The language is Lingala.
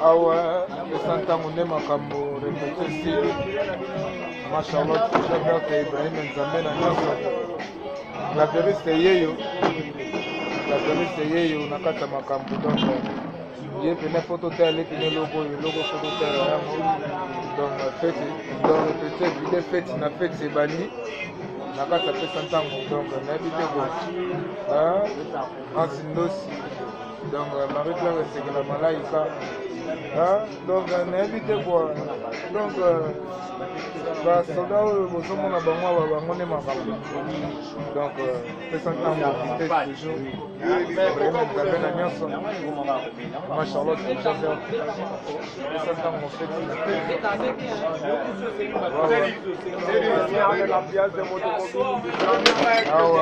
awa esa ntango nde makambo repete esili ma charlotte jaberte ibrahim nzambe na nyonso la veriste yeyo la veriste yeyo na kati ya makambo donc ye pene fo totala ye pene eloko oyo eloko fo totala yango donc feti donc repete vide feti na feti ebandi na kati apesa ntango donc nayebi te bo ansi ndosi donc marie claire esekela malaika donc nayebi te kwa donc basoda oyo bozomona bango awa bango nde makambo donc pesa ntango vite toujours nzambe na nyonso ma charlotte jaser pesa ntango feti na te awa